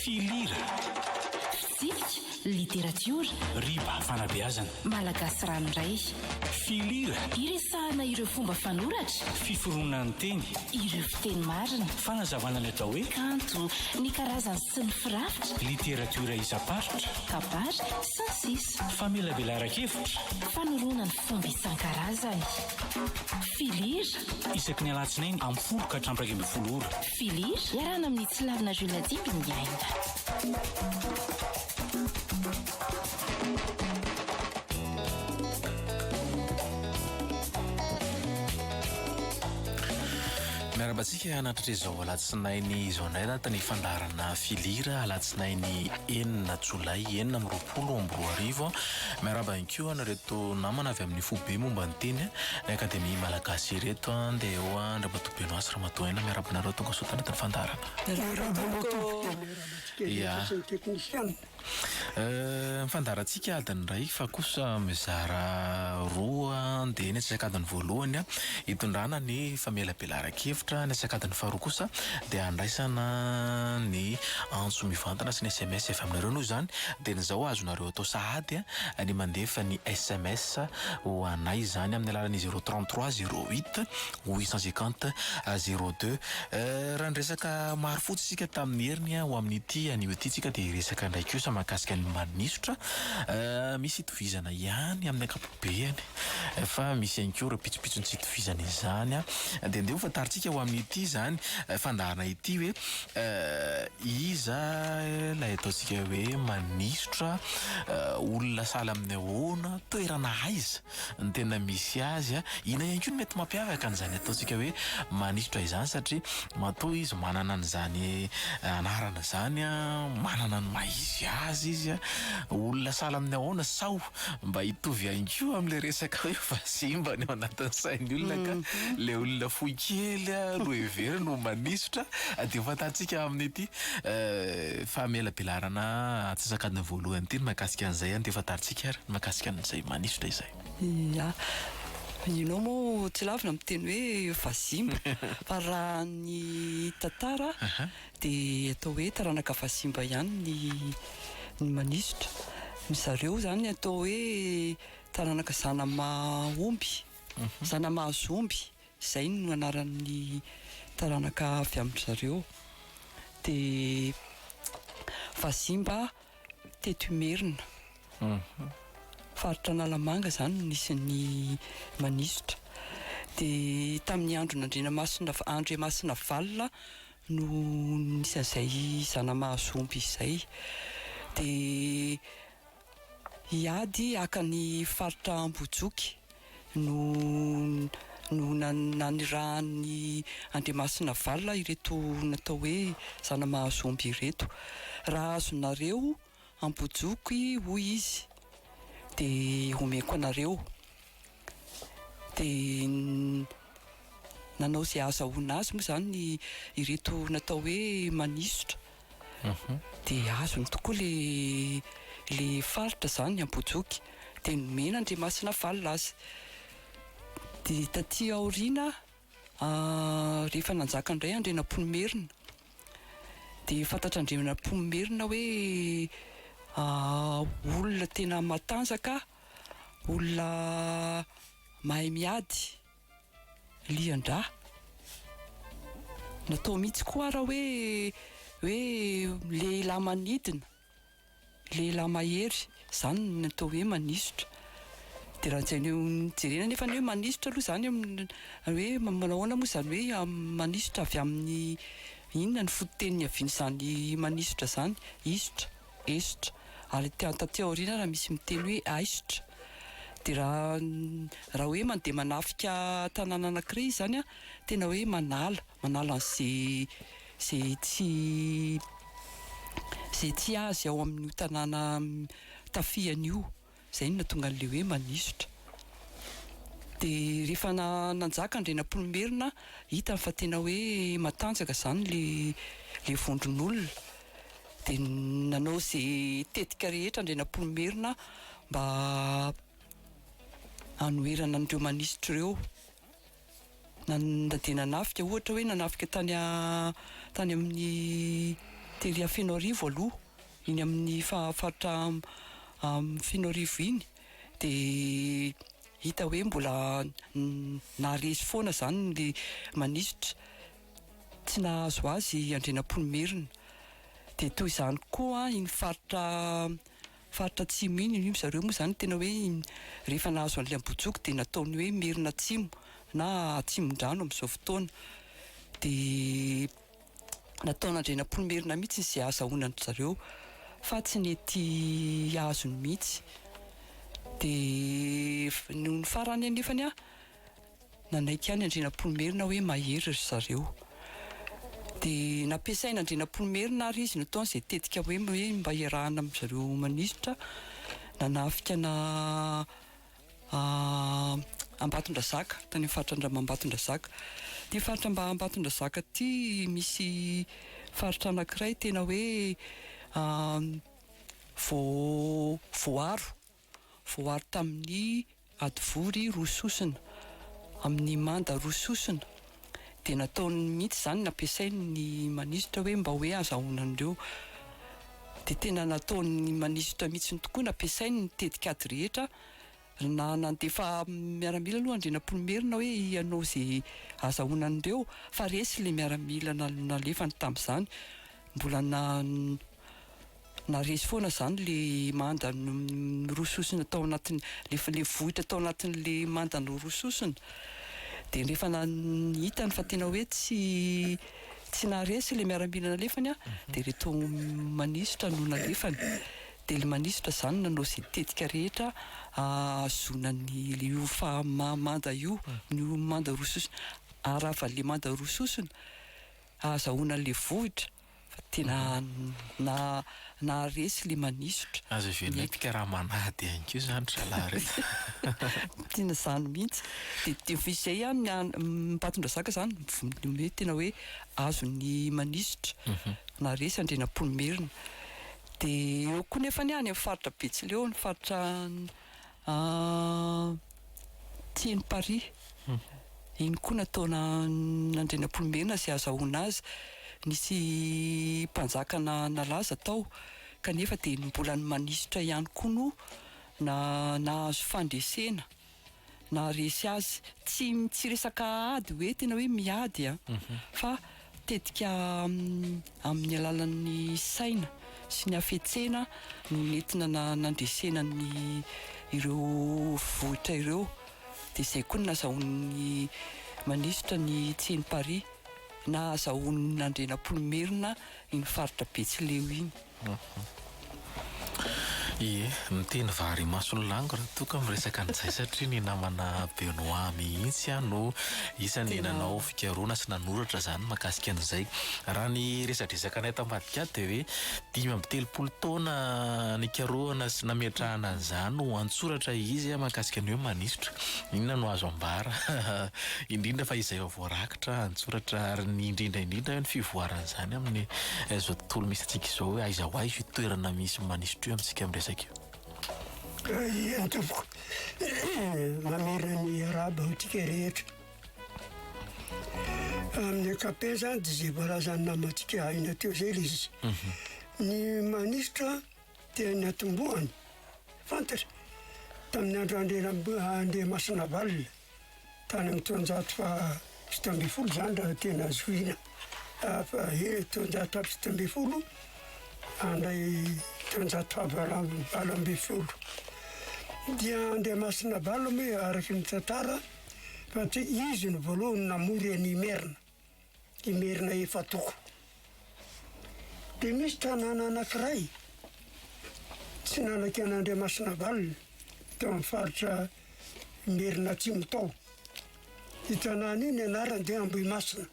Filira. Fitsipika, literatiora. Riba, fanabeazana. Malagasy ranoray. Filira. Iresahana ireo fomba fanoratra. Fiforonan'ny teny. Ireo fiteny marina. Fanazavana ny atao hoe. Kanto, ny karazany sy ny firafitra. Literatiora isam-paritra. Kabary, sy ny sisa. Famelabelaran-kevitra. Fanorona ny fomba isan-karazany. Filira. Isaky ny alatsinainy amin'ny folo ka hatramin'ny iraika ambin'ny folo ora. Filir, iarahana amin'i Tsilavina Jules Natsimby ny Miarabantsika hanatratra izao alatsinainy izao indray data ny fandaharana filira alatsinainy enina jolay enina amin'ny roapolo amby roa arivo. Miaraba ihany koa an'ireto namana avy amin'ny foibe momba ny teny ny akademia malagasy ireto dia eo an-dRamatoa Benoît Ramatoa Ella, miarahaba anareo, tonga soa tanatin'ny fandaharana. Miarahaba anao tompoko dia miarahaba antsika rehetra sy ny teknisianina. Ny fandaharantsika adiny iray fa kosa mizara roa dia ny antsasak'adiny voalohany hitondrana ny famelabelaran-kevitra, ny antsasak'adiny faharoa kosa dia handraisana ny antso mivantana sy ny sms avy aminareo noho izany dia ny izao azonareo atao sahady ny mandefa ny sms ho anay izany amin'ny alalan'ny zero trente trois zero huit Huit cent cinquante zero deux eh, raha niresaka maro fotsy isika tamin'ny heriny an, ho amin'ity anio ity tsika dia hiresaka indray kosa mahakasika ny manisotra eh, misy itovizana ihany amin'ny ankapobeany fa misy ihany koa ireo pitsopitsony tsy itovizana izany an, dia ndeha ho fantarintsika ho amin'ity izany fandaharana ity hoe eh, iza ilay ataontsika hoe manisotra eh, olona sahala amin'ny ahoana, toerana aiza. ny tena misy azy. Inona ihany koa no mety mampiavaka an'izany ataontsika hoe manisotra izany satria matoa izy manana an'izany anarana izany, manana ny maha izy azy izy, olona sahala amin'ny ahoana sao mba hitovy ihany koa amin'ilay resaka hoe vazimba any ao anatin'ny sain'ny olona ka ilay olona fohy kely no heveriny ho manisotra dia fantantsika amin'ity famelabelarana antsasakadiny voalohany ity ny mahakasika an'izay dia fantantsika. Madagasikara ny mahakasika an'izay manisotra izay. Ia. Ianao moa tsy lavina miteny hoe vazimba fa raha ny tantara dia atao hoe taranaka vazimba ihany ny ny manisotra. Ny zareo izany atao hoe taranaka zanamaomby, zanamahazo omby, izay no anaran'ny taranaka avy amin-dry zareo. Dia vazimba. Teto Imerina, faritra Analamanga izany no nisy ny manisotra. Dia tamin'ny andron'Andrianamasina, Andriamasinavalona no nisy an'izay zana-mahazombie izay. Dia hiady haka ny faritra Ambohijoky. no no nanirahan'i Andriamasinavalona ireto natao hoe zana-mahazombie ireto. Raha azonareo ambojoky hoy izy dia omeko anareo. Dia nanao izay ahazahoana azy moa izany ireto natao hoe manisotra dia azony tokoa le le faritra zany ny Ambohijoky dia nomena Andriamasina valona azy dia taty aoriana rehefa nanjaka indray Andrianampoinimerina dia fantatr'Andrianampoinimerina hoe olona tena matanjaka olona mahay miady Lian-dra. Natao mihitsy koa ara hoe hoe lehilahy manidina, lehilahy mahery, izany no atao hoe manisotra. Dia raha jere- jerena anefa ny hoe manisotra aloha izany amin'ny hoe manao ahoana moa izany hoe amin'ny manisotra avy amin'ny inona ny fototeny niavian'izany manisotra izany, hisotra. Aisotra. Ary ety an taty aoriana raha misy miteny hoe aisotra dia raha raha hoe mandeha manafika tanàna anankiray izy izany an, tena hoe manala, manala an'izay izay tsy izay tsy azy ao amin'io tanàna tafihany io. izay no nahatonga an'ilay hoe manisotra. Dia rehefa nanjaka Andrianampoinimerina, hitany fa tena hoe matanjaka izany ilay vondron'olona, dia nanao izay tetika rehetra Andrianampoinimerina mba hanoherana an'ireo manisotra ireo. Na dia nanafika ohatra hoe nanafika tany tany amin'ny teria Fenoarivo aloha, iny amin'ny faritra Fenoarivo iny dia hita hoe mbola naharesy foana izany ny manisitra, tsy nahazo azy Andrianampoinimerina. Dia toy izany koa iny faritra Faritra atsimo iny hoy zareo moa izany tena hoe rehefa nahazo an'ilay Ambojoko dia nataony hoe Merina Atsimo na Atsimondrano amin'izao fotoana. Dia nataon'Andrianampoinimerina mihitsy izay ahazahoana an-dry zareo fa tsy nety azony mihitsy. Dia nony farany anefany an! Nanaiky ihany Andrianampoinimerina hoe mahery ry zareo. Dia nampiasain' Andrianampoinimerina ary izy nataony izay tetika hoe mba iarahana amin-dry zareo manisitra nanafika ana Ambatondrazaka, tany amin'ny faritra Andramambatondrazaka. Ity faritra mba Ambatondrazaka ity misy faritra anankiray tena hoe voa voaaro. voaro tamin'ny hadivory roa sosona, amin'ny manda roa sosona, dia nataony mihitsy izany, nampiasainy ny manisitra hoe mba hoe azahoana an'ireo. Dia tena nataon'ny manisitra mihitsy tokoa, nampiasainy ny tetikady rehetra, na nandefa miaramila aloha Andrianampoinimerina hoe hanao izay azahoana an'ireo, fa resy ilay miaramila nalefany tamin'izany, mbola na, Na resy foana izany le manda norososina tao anatin'ny, le vohitra tao anatin'le manda norososina, dia rehefa hitany fa tena hoe tsy tsy naharesy le miaramila nalefany an, dia ireto manisotra no nalefany, dia le manisotra izany nanao izay tetika rehetra hahazoana an'io manda io, io manda rososina, haravan'le manda rososina, hahazahoana an'le vohitra. Tena naharesy ilay manisotra. Aza ven'aintika raha manady ihany koa izany ry zalahy re. Tena izany mihitsy. Dia dia vao izay ihany ny an- Ambatondrazaka izany mivon- hoe tena hoe azon'ny manisotra. Naharesy Andrianampoinimerina. Dia eo koa nefany any amin'ny faritra Betsileo, ny faritra an'. Aty am Paris, iny koa nataona an Andrianampoinimerina sy azahoana azy, nisy mpanjaka na nalaza tao kanefa dia mbola ny manisitra ihany koa no na nahazo fandresena, naharesy azy. Tsy tsy resaka ady hoe tena hoe miady an, fa Tetika amin'ny alalan'ny saina sy ny hafetsena no nentina nandresena ny ireo vohitra ireo, dia izay koa no nazahoan'ny manisitra ny Tseny Paris, nahazahoan'ny Andrianampoinimerina iny faritra Betsileo iny. Ie, miteny vary imaso ny lango ra toa ka miresaka an'izay satria ny namana Benoît mihitsy aho no isan'ny nanao fikarohana sy nanoratra izany mahakasika an'izay. Raha ny resadresakanay tambadik'ato dia hoe dimy amby telopolo taona nikarohana sy nametrahana an'izany ho an-tsoratra izy mahakasika ny hoe manisotra. Inona no azo ambara indrindra fa izay voarakitra an-tsoratra ary ny indrindra indrindra hoe ny fivoaran'izany amin'ny izao tontolo misy antsika izao hoe aiza ho aiza io toerana misy manisitra io amintsika miresaka io? Raha tompoko, mamerina ny arabo amintsika rehetra. Amin'ny ankapobeny zany dia izay voalazan'ny namantsika aina teo izay ilay izy. Ny manisitra Teny Antombohany, fantatra tamin'ny andro Andriamasinavalona, tany amin'ny taonjato faha fito ambin'ny folo izany raha tena zohiana, fa eny taonjato faha fito ambin'ny folo handray taonjato faha valo ambin'ny folo. Dia Andriamasinavalona moa araka ny tantara fa izy no voalohany namory an'Imerina. i Merina Efatoko. Dia misy tanàna anankiray tsy nanaky an'Andriamasinavalona teo amin'ny faritra Merina Atsimo tao. Io tanàna io ny anarany dia Ambohimasina.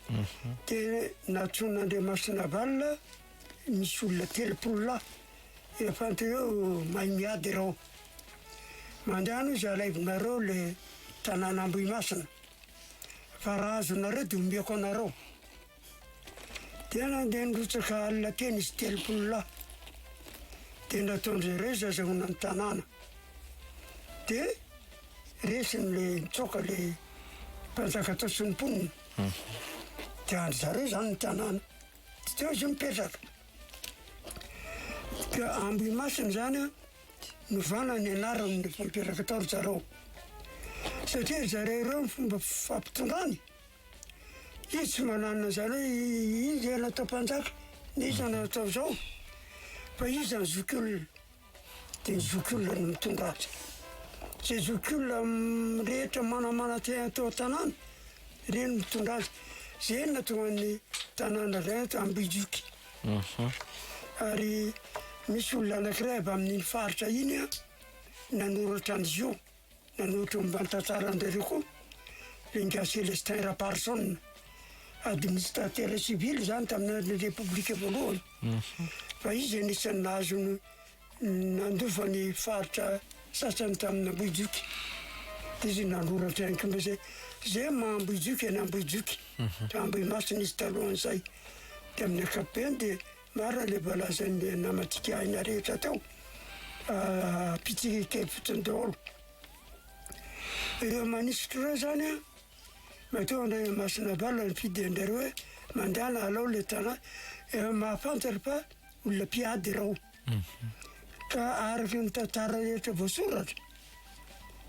Mhm. Dia natsoin'Andriamasinavalona misy olona telopolo lahy efa antireo mahay miady ireo. Mandehana hoy izy alaivonareo le tanàna Ambohimasina. ka raha azonareo dia omeko anareo. Dia nandeha nirotsaka alina teny izy telopolo lahy. Dia nataon-dry zareo izy azahoana ny tanàna. Dia resin'ilay nitsoaka ilay mpanjaka tao sy ny mponina. Dia andry zareo izany ny tanàna. Dia teo izy mipetraka. Dia Ambohimasina izany an. Novana ny anaran'ny mpampiaraka tao ry zareo satria ry zareo ireo ny fomba fampitondrany. Izy tsy manana izany hoe iza no atao mpanjaka, na iza no atao izao. Fa iza ny zokiolona? Dia ny zokiolona no mitondra azy. Izay zokiolona rehetra manamana te- tao an-tanàna, ireny no mitondra azy. Izay no nahatonga ny tanàna iray ato Ambohijoky. Ary misy olona anankiray avy amin'iny faritra iny an, nanoratra an'izy io, nanoratra momba ny tantsaran-dRario koa, Benga Celestin Raparison. Administrateur civil izany tamin'ny andron'ny Repoblika voalohany. Fa izy anisan'ny nahazo ny Nandova ny faritra sasany tamin'Ambohijoky izy nanoratra ihany koa izay izay maha Ambohijoky an'i Ambohijoky raha Ambohimasina izy talohan'izay dia amin'ny ankapobeny dia maro ilay voalazan'ny namantsika aina rehetra tao pitsirika fotsiny daholo ireo manisitry ireo zany a matoa Andriamasina Avala nifidy anjareo hoe mandala alao ilay tanà mahafantatra fa olona mpiady ireo Ka araka ny tantara rehetra voasoratra,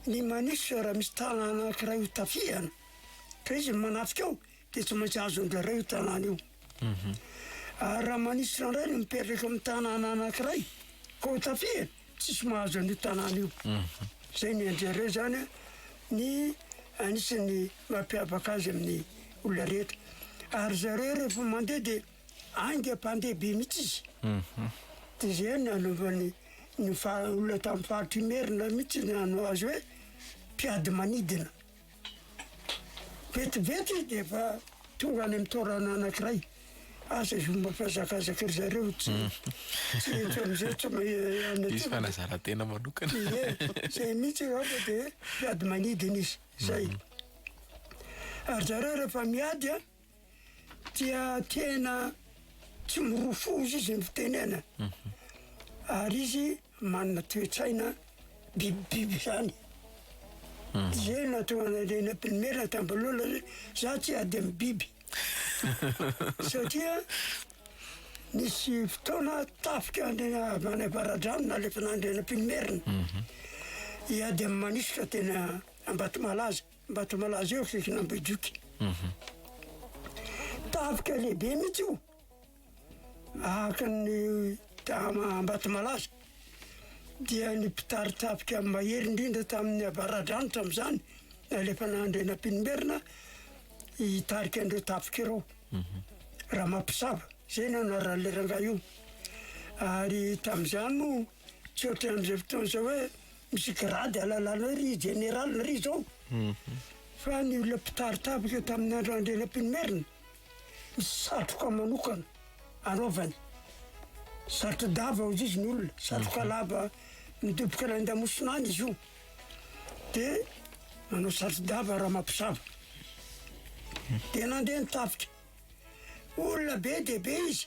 ny Manisa raha misy tanàna anankiray ho tafihana, ka izy no manatrika ao, dia tsy maintsy azony indraindray io tanàna io. Ary raha Manisa indray no mipetraka amin'ny tanàna anankiray, ka ho tafihana, tsisy mahazo an'io tanàna io. Izay ny anjara eo zany ny anisan'ny mampiavaka azy amin'ny olona rehetra. Ary zareo rehefa mandeha dia Aingam-pandehabe mihitsy izy. Dia izay no nanaovany ny olona tamin'ny faritr'Imerina mihitsy ny hanao azy hoe mpiady manidina. Vetivety izy dia efa tonga any amin'ny toerana anankiray. Asa izao mba mihazakazaka ry zareo tsy tsy henjy amin'izay tsy any aty. Hisy fanazaran-tena manokana. Ie, izay mihitsy angamba dia mpiady manidina izy. Izay. Ary zareo rehefa miady an! dia tena tsy mirofoza izy amin'ny fitenenana, ary izy manana toe-tsaina bibibiby zany. Ze natoa nalena primaire tambalola zay, za tsy ady amin'ny biby. Satria nisy fotoana tafika any avaradrano nalefana andriana primaire, hiady amin'ny manisy ka tena Ambatomalaza. Ambatomalaza eo akaikin' Ambohijoky. Tafika lehibe mihitsy io, ahakin'ny dama Ambatomalaza. Dia ny mpitari-tafika mahery indrindra tamin'ny Avaradrano tamin'izany, nalefana Andrianampoinimerina hitarika an'ireo tafika ireo. Ramampisava, izay no anaran'ilay rangahy io. Ary tamin'izany moa. Tsy ohatran'izay fotoana izao hoe misy grade ahalalana hoe ry jeneraly ry izao. Fa ny olona mpitari tafika tamin'ny andro andrianampoinimerina, misy satroka manokana anaovany. Satro-dava hozy izy ny olona, satroka lava midoboka any an-damosina any izy io. Dia manao satro-dava Ramampisava. Dia nandeha ny tafika. Olona be dia be izy.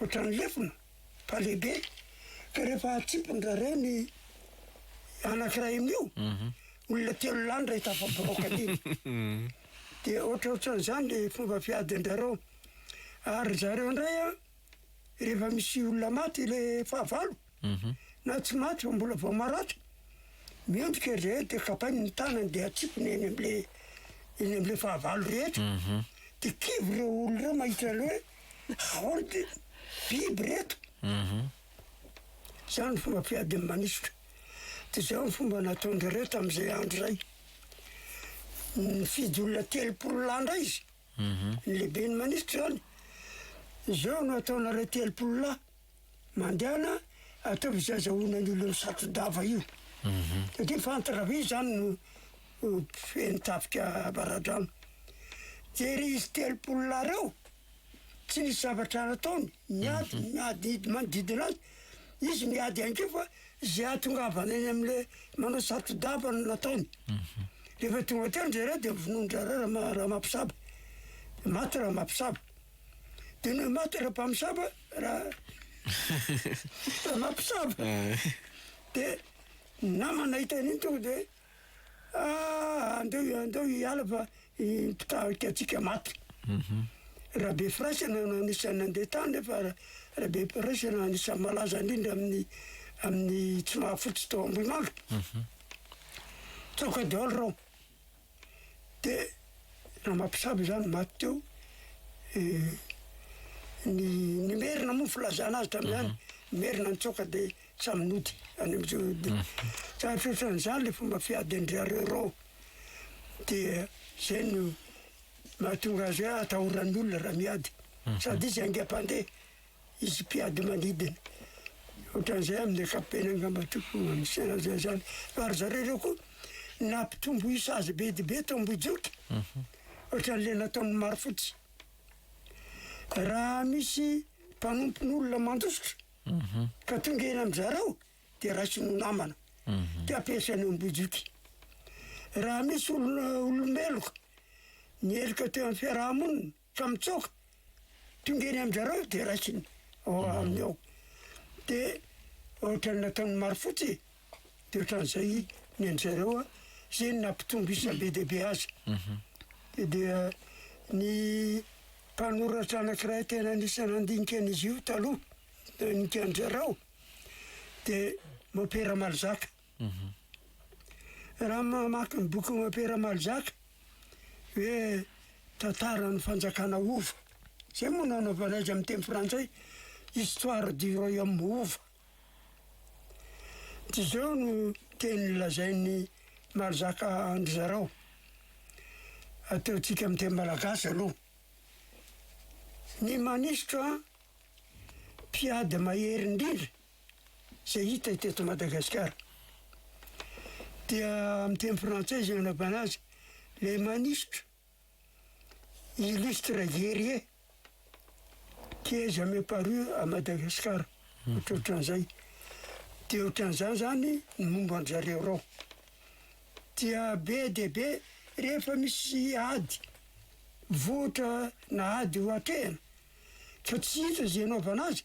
Ohatran'ny lefona fa lehibe, ka rehefa atsipin-dra rey ny anankiray amin'io, olona telo lahy ndray tafabiraoka an'iny. Dia ohatraohatran'izany le fomba fiadin-drareo. Ary ry zareo ndray an, rehefa misy olona maty le fahavalo, Na tsy maty fa mbola vao maratra, mendrika izy rehetra dia kapainy ny tanany dia atsipiny eny amle eny amle fahavalo rehetra dia kivy ireo olona ireo mahita anle hoe ahoana ty biby reto zany fomba fiadiny manisotra dia zao ny fomba nataonjareo tamzay andro zay nifidy olona telopolo lahy ndray izy ny lehibeny manisotra zany zao no ataonareo telopolo lahy Mandehana ataovy izay azahoanan'ny olona satro-dava io. Satria fantatra ve izany no feno tafika ambaradrano. Dia izy telopolo lahy ireo, tsy nisy zavatra nataony, niady, niadidy manodidina azy. Izy niady ihany koa fa izay ahatongavana eny amin'le manao satro-dava no nataony. Rehefa tonga teo ndry zareo dia vonoin-dry zareo Rama- Ramabisaba. Maty Ramabisaba. Tena maty raha mpamosavy raha mpamosavy de nama nahita an'iny tonga de ah andeo andeo hiala fa mpitarika antsika maty mhm. Rabe firaisana no anisan'ny nandeha tany nefa Rabe firaisana anisan'ny malaza indrindra amin'ny amin'ny tsy mahafotsy tao Ambohimanga. Mhm. Tsaoka daholo reo. dia raha mampisabo izany maty teo ny ny merina moa filazana azy hatramin'ny any mhm. merina nitsoaka dia samy nody any am'zao dia mhm. tsarotra ohatran'izany le fomba fiady an-dry dia zay no mahatonga azy hoe atahoran'ny olona raha miady mhm. sady izy aingam-pandeha Hisy mpiady manidina ohatran'izay amin'ny ankapobeny angamba tokony hanisana an'izay izany. Fa ry zareo ireo koa nampitombo isa azy be dia be tao Ambohijoky. Mhm. Ohatran'ilay nataon'ny Marofotsy. Raha misy mpanompon'olona mandositra mhm. ka tonga eny amin'ny zareo dia raisiny ho namana. Mhm. Dia ampiasainy Ambohijoky. Raha misy olona olomeloka ny heloka teo amin'ny fiaraha-monina Fa mitsoaka, tonga eny amin-dRarao dia raisiny ao aminy ao. Dia ohatran'ny nataon'i Marofotsy e! Dia ohatran'izay ny an-dry zareo an! Izay no nampitombo isa be dia be azy. Dia ny mpanoratra anankiray tena anisan'ny nandinika an'izy io taloha, nandinika an-dRarao, dia Mopera Malzaka. Raha mamaky ny bokin'i Opera Malzac hoe Tantaran'ny Fanjakana Hova, izay moa no anaovana azy amin'ny teny frantsay, Histoire du Royaume Hova, dia izao no teny lazain'i Malzac an-dry zareo, ataontsika amin'ny teny malagasy aloha, Ny manisitra mpiady mahery indrindra, izay hita ety eto Madagasikara. Dia amin'ny teny frantsay izay anaovana azy, les manistres illustres guerriers qui est jamais paru à Madagascar. Ohatrohatran'izay. Dia ohatran'izany izany ny momba an-dry zareo ireo. Dia be dia be rehefa misy ady vohitra na ady ho atrehina ka tsy hita izay anaovana azy,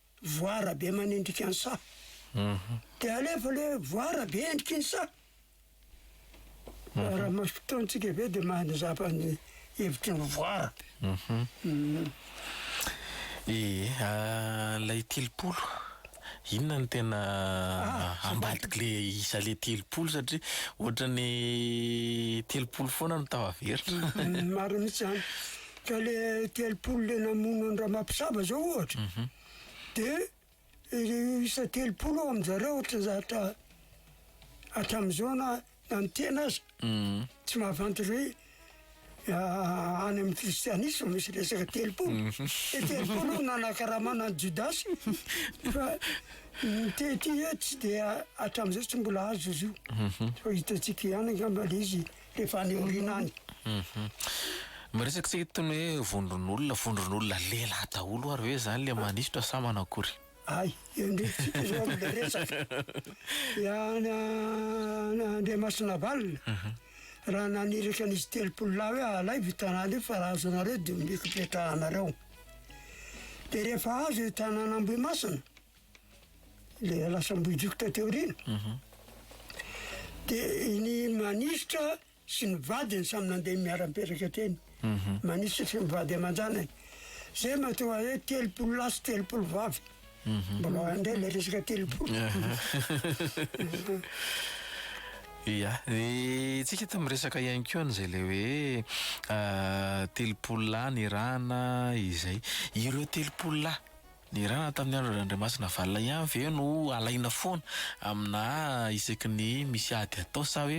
voara be manendrika ny saha. Dia alefa le voara be endriky ny saha. Raha maso fotoantsika ve dia maha-nizapa ny hevitry ny voara. Ee, ilay telopolo, inona no tena ambadiky le isa le telopolo satria ohatran'ny telopolo foana no tafaverina. Marina mihitsy izany. Ka le telopolo le namono an Ramabisaba zao ohatra mhm. de ireo isa telopolo ao aminjareo ohatra zatra hatramin'izao na na ny tena aza mhm. tsy mahavanty hoe ah, any amin'ny kristianisme misy resaka telopolo mhm. de telopolo nanakaramana ny jodasy fa ny tety tsy dia hatramin'izao tsy mbola azo izy io fa hitantsika ihany angamba le izy Rehefa any aoriana any. Miresaka tsika toy ny hoe vondron'olona, vondron'olona lehilahy daholo ary ve zany le manisotra sa manao akory? Hay, endretsika zao ry resaka. An Andriamasinavalona raha naniraka an'izy telopolo lahy hoe alaivo io tanàna io fa raha azonareo de omeko ipetrahanareo. De rehefa azo io tanàn'Ambohimasina. le lasa Ambohijoko taty aoriana. Mhm. De ny manisitra sy ny vadiny samy nandeha miara-mipetraka teny. Mhm. Manisitra sy ny vady aman-janany. Zay matoa hoe telopolo lahy sy telopolo vavy. Mhm. Mbola indray le resaka telopolo. Ia, ny tsika eto miresaka ihany koa an'izay le hoe ah, telopolo lahy nirahana izay. Ireo telopolo lahy Ny ra na tamin'ny andro Randriamasina Valona ihany ve no alaina foana amina isaky ny misy ady atao sa hoe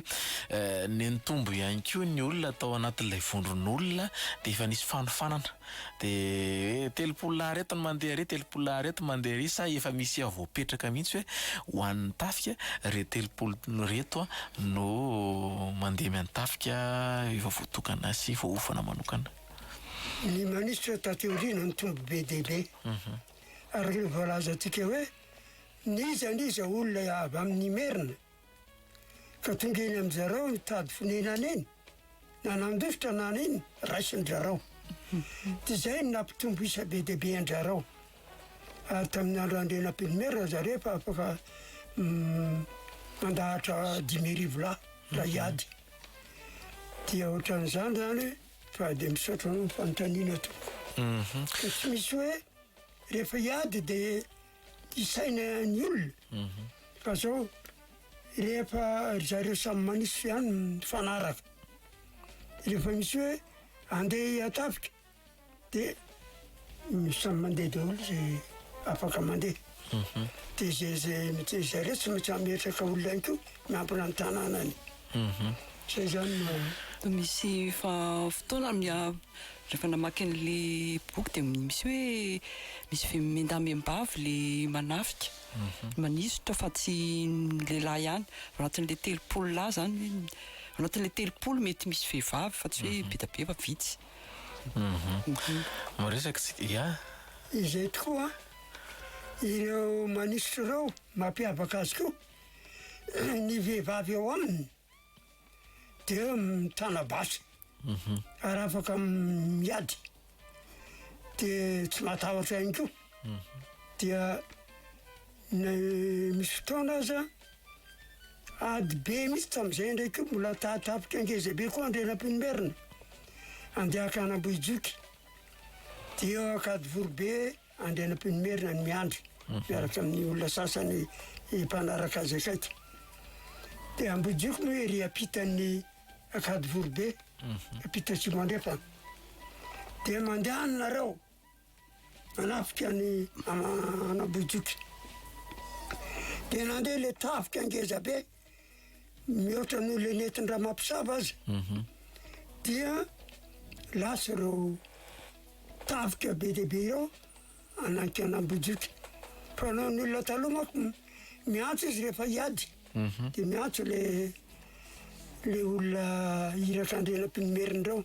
nenitombo ihany koa ny olona tao anatin'ilay vondron'olona dia efa nisy fanofanana dia hoe telopolo lahy ireto no mandeha ary telopolo lahy ireto mandeha ary sa efa misy efa voapetraka mihitsy hoe ho an'ny tafika re telopolo ireto no mandeha mian'ny tafika efa voatokana sy voaofana manokana. ny manisitra taty aoriana ny tombo be dia be mhm. araka ny voalazantsika hoe niza niza olona avy amin'ny merina ka tonga eny amin'ny zarao nitady fonenana eny na nandosotra nana iny raisin-drarao mhm. dia izay ny nampitombo isa be dia be an-drarao ary tamin'ny andro andrenam-pilomerina zareo fa afaka mm, mandahatra dimy arivo lahy raha mhm. hiady dia ohatran'izany zany Fa dia misaotra anao fanontaniana tompoko. Fa tsy misy hoe rehefa hiady dia hisaina ny olona. Fa zao rehefa ry zareo samy manisy ihany mifanaraka. Rehefa misy hoe andeha hihatafika. Dia ny samy mandeha daholo izay afaka mandeha. Dia izay izay mi- izay izay tsy maintsy hametraka olona ihany koa miambina ny tanànany. Izay izany no. Misy fa fotoana mi- rehefa namaky an'ilay boky dia misy hoe misy vemimendamem-bavy ilay manafika, manisotra fa tsy ny lehilahy ihany. Ao anatin'ilay telopolo lahy izany, ao anatin'ilay telopolo mety misy vehivavy fa tsy hoe be dia be fa vitsy. Mba resaka tsika, ya. Izay tokoa ireo manisitry ireo mampiavaka azy koa, ny vehivavy ao aminy dia mitana basy ary afaka miady dia tsy matahotra ihany koa. Dia na misy fotoana aza. Ady be mihitsy tamin'izay indray koa mbola tahatapitra ngeza be koa Andrianampoinimerina andeha hankany Ambohijoky dia eo Ankadivoribe Andrianampoinimerina no miandry mhm. miaraka amin'ny olona sasany mpanaraka azy akaiky dia Ambohijoky moa ery ampitan'ny Ankadivoribe mhm. ampita Tsimandrefana dia mandehanareo manafika ny Anabohijoky. Dia nandeha ilay tafika ngeza be, mihoatra noho ilay nentin-dRamampisava aza. Mhm. Dia lasa ireo tafika be dia be ireo anaty Anabohijoky. Fa noho ny olona taloha manko miantso izy rehefa hiady, mhm. dia miantso ilay ilay olona iratr'Andrianampoinimerina ireo.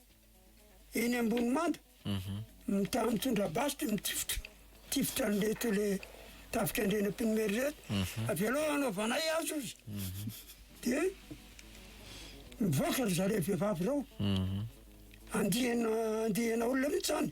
eny Ambohimamba, mitandro mitondra basy dia mitifitra tifitra an'ireto le tafika Andriana Mpinomery ireto. Mhm. Avelao hanaovanay azy ozy. Mhm. Dia mivoaka ry zareo vehivavy ireo. Mhm. Andiana andiana olona mihitsy zany.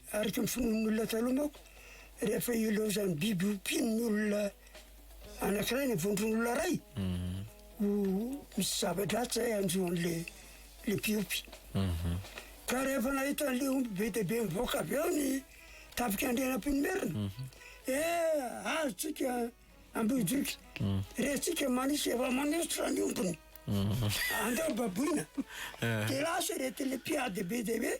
Araka ny finoan'ny olona taloha manko, rehefa ilaozan'ny biby ompian'ny olona anankiray ny vondron'olona iray, ho misy zava-dratsy zay hanjo an'le le mpiompy. Ka rehefa nahita an'le omby be dia be mivoaka avy ao ny tafika Andrianampoinimerina, eh azo tsika Ambohijoky, rentsika Manisy efa manosotra ny ombiny, andao baboina. Dia lasa ireto le mpiady be dia be.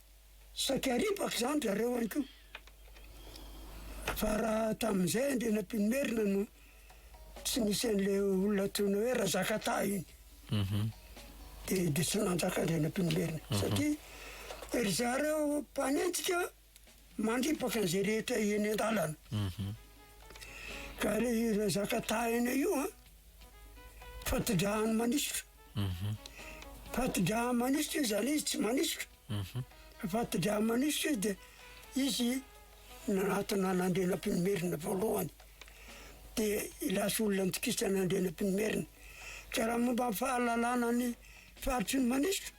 Saika ripaka izany ry zareo any koa. Fa raha tamin'izay Andrianampoinimerina no tsy nisy an'ilay olona antsoina hoe Razakataha iny. Mhm. Dia dia tsy nanjaka Andrianampoinimerina. Mhm. Satria ry zareo mpanenjika mandripaka an'izay rehetra eny an-dalana. Mhm. Ka ilay Razakataha iny io an. Fatidrahany manisotra. Mhm. Fatidrahany manisotra izy zany izy tsy manisotra. Mhm. Fatidrahany manisotra izy dia izy nanatona an'Andrianampoinimerina voalohany. Dia lasa olona nitokisa an'Andrianampoinimerina. Ka raha momba ny fahalalana ny faritry ny manisotra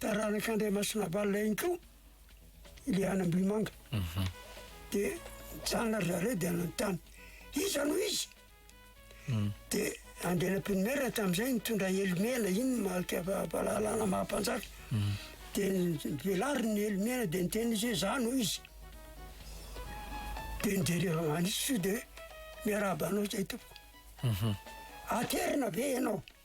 Taranak'Andriamasinavalona ihany koa ilay any Ambohimanga. Mhm. Dia nijanona ry zareo dia nanontany, iza no izy? Mm. Dia Andrianampoinimerina tamin'izay nitondra elo mena, iny marika fa- fahalalana maha mpanjaka. Mm. Dia ny- velariny ny elo mena dia niteny izy hoe za no izy. Dia nijery avy manisy soa dia hoe miarahaba anao zay tompoko. Mhm. Aterina ve ianao?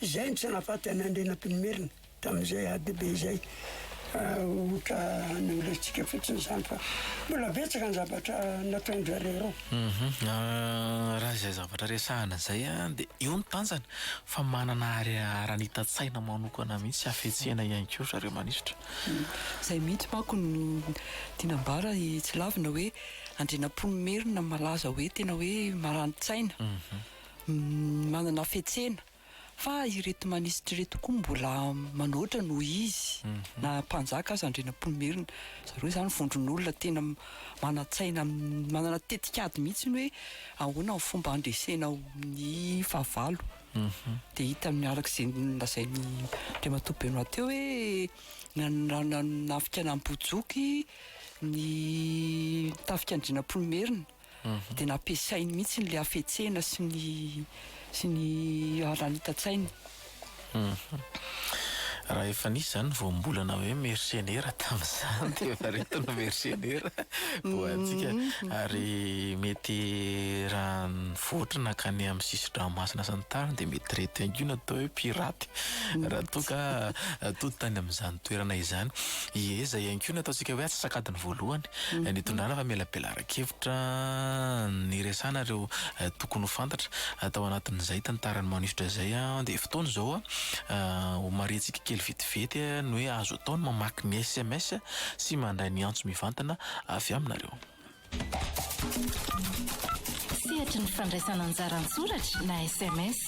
izay no tsy nahafaty an'i Andrianampoinimerina tamin'izay ady be izay. Ohatra nolaintsika fotsiny izany fa mbola betsaka ny zavatra nataon-dry zareo ireo. Raha izay zavatra resahana izay dia eo ny tanjany fa manana aranita-tsaina manokana mihitsy hafetsena ihany koa ry zareo manisotra. Izay mihitsy manko no tiana ambara i Tsilavina hoe Andrianampoinimerina malaza hoe tena hoe marani-tsaina. manana hafetsena fa ireto manisitra ireto koa mbola manoatra noho izy mhm. na mpanjaka aza andrianampoinimerina zareo izany vondron'olona tena manatsaina manana tetikady mihitsy ny hoe ahoana ny fomba handresena ny fahavalo mhm. dia hita amin'ny araka izay lazain'ny andriamatoa benoa teo hoe nanafika nambojoky ny tafika andrianampoinimerina dia nampiasainy mihitsy ilay hafetsena sy ny sy ny haranitan-tsainy. Raha efa nisy izany voambolana hoe mersenera tamin'izany dia efa ireto no mersenera ho antsika ary mety raha nivoatra nankany amin'ny sisin-dranomasina sy ny tariny dia mety ireto ihany koa no atao hoe piraty raha toa ka atody tany amin'izany toerana izany. Ieza ihany koa no ataontsika hoe atsasakadiny voalohany nitondrana fa mila bela Foto-kevitra niresahana ireo tokony ho fantatra tao anatin'izay tantara manosotra izay dia fotoana izao homarihantsika kely vetivety ny hoe azo atao ny mamaky ny sms sy mandray ny antso mivantana avy aminareo. Sehatry ny fandraisana anjara an-tsoratra na sms.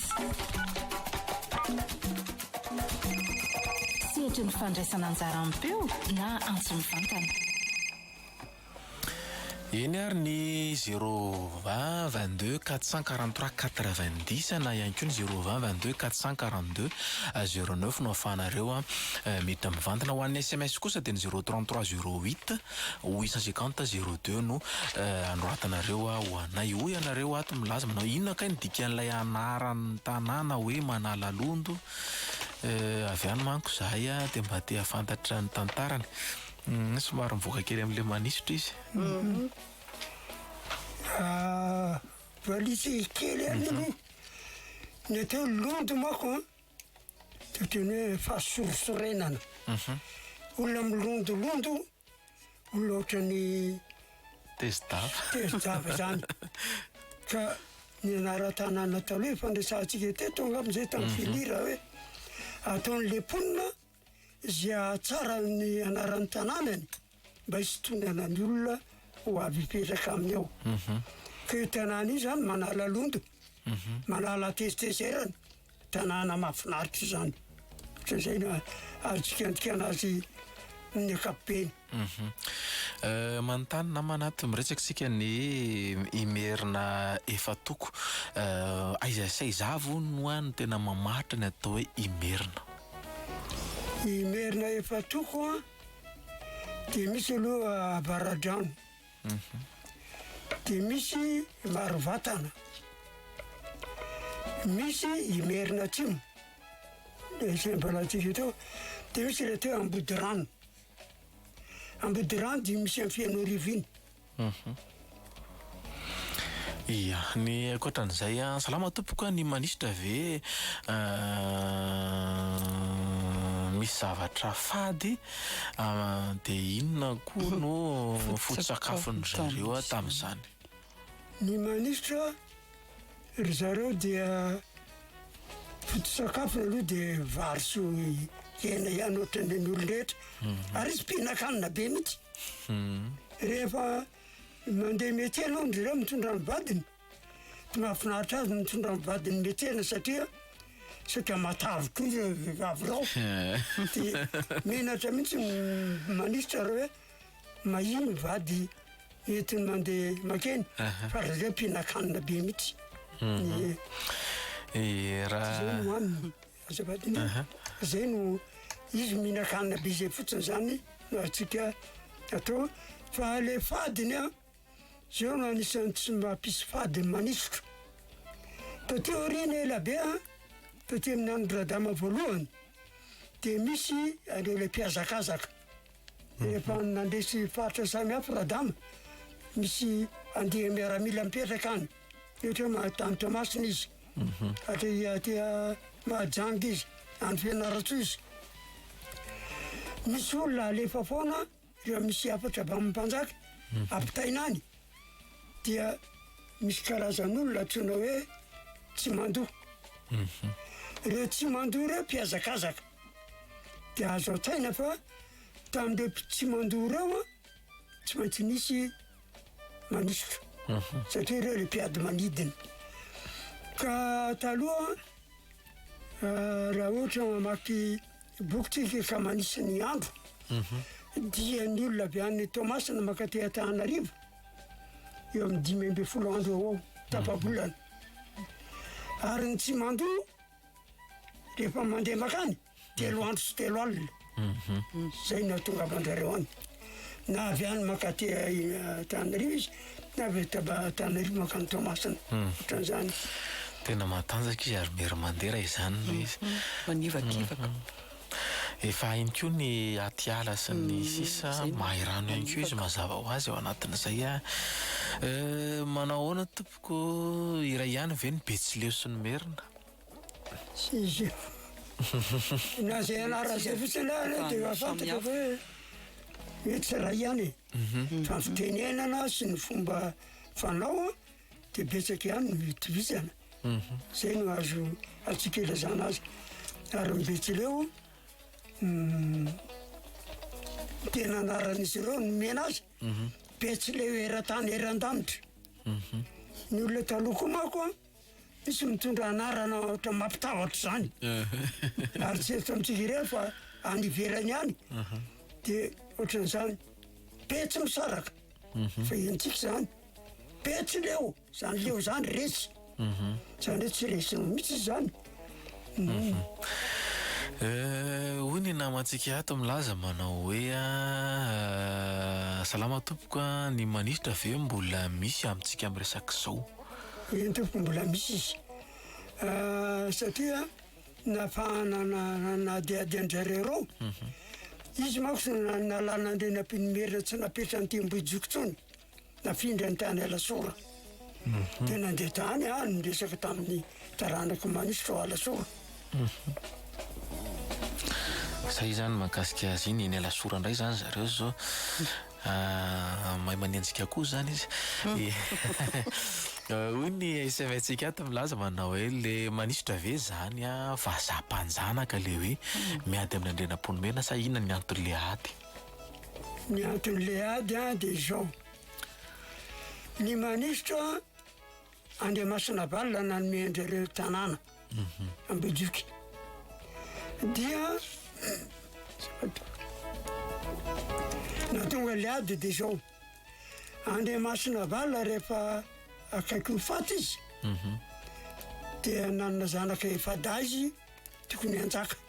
Sehatry ny fandraisana anjara am-peo na antso mivantana. Eny ary ny zéro vingt vingt deux quatre cent quarante trois quatre vingt dix na ihany koa ny zéro vingt vingt deux quatre cent quarante deux zéro neuf no ahafahanareo mety mivantana. Ho an'ny sms kosa dia ny zéro trente trois zéro huit huit cent cinquante zéro deux no anoratanareo ho anay. Hoy ianareo ato milaza manao inona kay ny dikan'ilay anaran'ny tanàna hoe Manalalondo? Avy any manko izahay dia mba te hahafantatra ny tantarany. Uhm somary mivoaka kely amin'ilay manisotra izy. Valise kely ihany aloha. Mhm. Ny atao hoe londy manko an, dia ohatran'ny hoe fahasorisorenana. Mhm. Olona milondolondo, olona ohatran'ny tezi-dava. Tezi-dava izany. Ka ny anaran-tanàna taloha efa niresahantsika teto angamba izay tamin'ny mhm. filira hoe ataon'ilay mponina izay hahatsara ny anaran'ny tanànany mba hisintonana ny olona ho avy hipetraka aminy ao. Mhm. Ka io tanàna io zany manala londo, mhm. manala tezitezerana, tanàna mahafinaritra izany. Ohatr'izay no azo jikanjikana azy amin'ny ankapobeny. Manontany na manaty miresaka isika ny Imerina efa toko. Aiza sy aiza avy hono no any tena mamaritra ny atao hoe Imerina? Imerina efa toko an, dia misy aloha Avaradrano, dia misy Marovatana, misy Imerina Atsimo, dia izay mbola tsy vita ao, dia misy raha atao hoe Ambodirano. Ambodirano dimy misy any Fenoarivo iny. Mhm. Ia, ny ankoatran'izay an. Salama tompoko an, ny manisitra ve misy zavatra fady de inona koa no foto-tsakafon'dry zareo an tamin'izany? Ny manisitra. Ry zareo dia foto-tsakafony aloha dia vary sy hena ihany ohatran'ny an'olon-drehetra. Mhm. Ary izy mpihinan-kanina be mihitsy. Mhm. Rehefa mandeha métier aloha ndry zareo mitondra ny vadiny. Tsy mahafinaritra azy ny mitondra ny vadiny métier satria saika matavy koa ireo vehivavy ireo. Dia menatra mihitsy ny minisitra raha hoe Maheno ny vady entiny mandeha makeny fa ry zareo mpihinan-kanina be mihitsy. Eh, raha- Zay no aminy, azafady ny zay no izy mihinan-kanina be zay fotsiny zany no azontsika atao fa le fadiny an, zao no anisan'ny tsy mampisy fadiny manisotra. Taty aoriana ela be an, taty amin'ny andron'i Radama voalohany de misy an'ireo le mpihazakazaka. Efa nandresy faritra samihafa Radama, misy andiany miaramila mipetraka any, ohatra hoe tany Toamasina izy, mhm. aty aty Mahajanga izy, any Fianarantsoa izy. Misy olona alefa foana rehefa misy hafatra avy amin'ny mpanjaka, mhm. ampitaina any, dia misy karazan'olona antsoina hoe tsy mandoa. Mhm. Ireo tsy mandoa ireo mpihazakazaka. Dia azo an-tsaina fa tamin'ireo tsy mandoa ireo an, tsy maintsy nisy manosotra satria ireo le mpiady manidina. Ka taloha raha ohatra mamaky boky tsika ka manisy ny andro dia ny olona avy any Toamasina mankaty Antananarivo eo amin'ny dimy ambin'ny folo andro eo ho eo tapa-bolana. Ary ny tsy mandoa Rehefa mandeha makany, telo andro sy telo alina. Mhm. Zay no ahatongavanjareo any. Na avy any makaty eh, Tanarivo izy, na avy taba- Tanarivo makany Toamasina. Hmm. Ohatran'izany. Tena matanjaka izy ary mera mandera izany ilay izy. Mhm. Manivakivaka. Mhm. Efa hainy koa ny atiala sy ny hmm. sisa, mahay rano ihany koa izy mazava ho azy ao anatin'izay. Eh, manao ahoana Tompoko iray ihany ve ny Betsileo sy ny Merina? Tsy izy io. Na izay anarana izay fotsiny ary dia efa fantatra fa hoe mety tsy iray ihany e. Mhm. Fa ny fitenenana sy ny fomba fanao dia betsaka ihany no itovizana. Mhm. Izay no azo antsika ilazana azy. Ary ny Betsileo tena anaran'izy ireo nomena azy. Betsileo eran-tany eran-danitra. Ny olona taloha koa manko an, misy mitondra anarana ohatra mampitahotra izany. Ary tsy eto amintsika irery fa any ivelany any. Dia ohatran'izany, Betsimisaraka. Fa henontsika izany, Betsileo. Zany leo zany resy. Zany hoe tsy resinao mihitsy zany. Hoy ny namantsika ato milaza manao hoe salama tompoko a, ny manisitra ve mbola misy amintsika miresaka zao? Eny tompoko mbola misy izy satria nafahana nanadihady an-dRaireo, izy manko nalana andriana mpinimerina tsy napetrany teo Ambohijoko intsony. Nafindra ny tany Alasora. Dia nandeha tany aho niresaka tamin'ny taranak'i Manisotra ao Alasora. Izay izany mahakasika azy iny, eny Alasora indray izany zareo izao. Ah, mahay manenjika koa izany izy. Hoy ny SMS-tsika ato milaza manao hoe le Manisotra ve izany vazaha mpanjanaka le hoe miady amin'Andrianampoinimerina sa inona ny anton'ilay ady? Ny anton'ilay ady dia izao, ny manisitra Andriamasinavalona nanome an-dry zareo tanàna Ambohijoky dia nahatonga ilay ady dia izao, Andriamasinavalona rehefa akaiky ho faty izy dia nanana zanaka efa-dahy izy tokony hanjaka.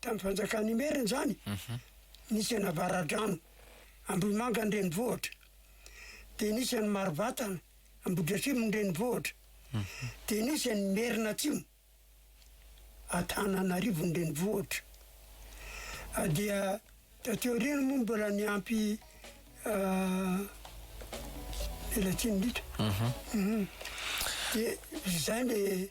Tamin'ny fanjakan'ny Imerina izany, nisy an'i Avaradrano, Ambohimanga an-drenivohitra, dia nisy an'i Marovatana, Ambohidratrimo an-drenivohitra, dia nisy an'i Imerina Atsimo, Antananarivo an-drenivohitra. Dia taty aoriana moa mbola niampy Melatsinolotra. Dia izay le.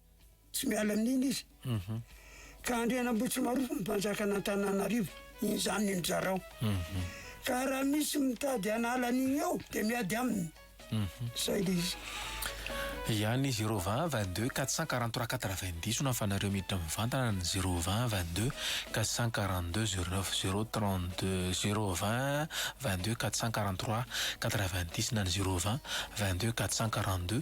Tsy miala amin'iny izy. Ka Andrianambohitsimarofo no mpanjakan'Antananarivo. Iny izany ny nizarao. Ka raha misy mitady hanala an'iny eo dia miady aminy. Izay ilay izy. Ihany ny zéro vingt vingt deux quatre cent quarante trois quatre vingt dix no hafanareo miditra mivantana ny zéro vingt vingt deux quatre cent quarante deux zéro neuf zéro trente deux zéro vingt vingt deux quatre cent quarante trois quatre vingt dix na ny zéro vingt vingt deux quatre cent quarante deux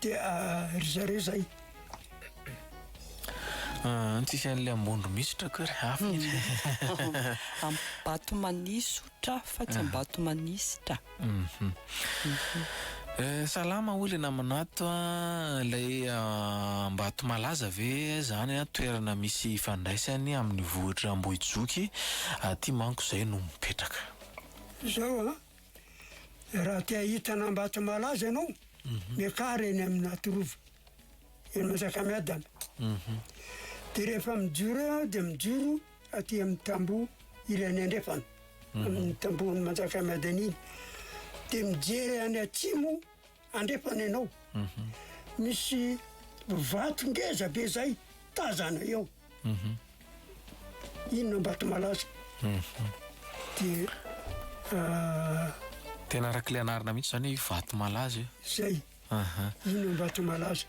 Dia ry zareo izay. An, tsisy an'ilay ambondro misy tra koa ry hafa iny. Ambatomanisotra fa tsy Ambatomanisitra. Salama hoy ilay namana ato a, ilay Ambatomalaza ve izany an, toerana misy ifandraisany amin'ny vohitr'Ambohijoky, aty manko izay no mipetraka. Izao an. Raha te hahita an'Ambato malaza ianao, miakara eny amin'ny Atorova, eny Manjakamiadana. Mhm. Dia rehefa mijoro eo aho dia mijoro aty amin'ny tamboho ilay any andrefana, mhm. amin'ny tambohon'ny Manjakamiadana iny. Dia mijery any atsimo Andrefana ianao. Misy vato ngeza be zay tazana eo. Inn Ambatomalaza. Dia Tena araka ilay anarana mihitsy izany hoe Ivatomalaza io. Zay. Aha. Inn Ambatomalaza.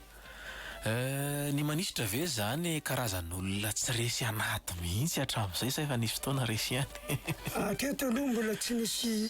Eh, ny manisitra ve izany karazan'olona tsy resy anaty mihitsy hatramin'izay sa efa nisy fotoana resy ihany? Hatreto aloha mbola tsy nisy.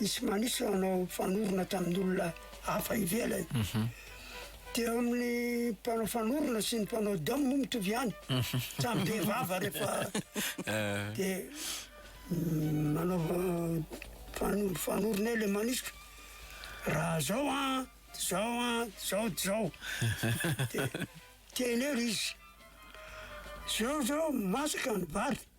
Misy manisa hanao fanorona tamin'olona hafa ivelany. Mhm. Dia eo amin'ny mpanao fanorona sy ny mpanao dom moa mitovy ihany. Mhm. Samy be vava rehefa eh. dia mm, manao eh, fanorona eo le manisika. Raha zao a, ah, zao a, ah, zao dy zao. Dia teny eo izy. Zao zao masaka ny vary.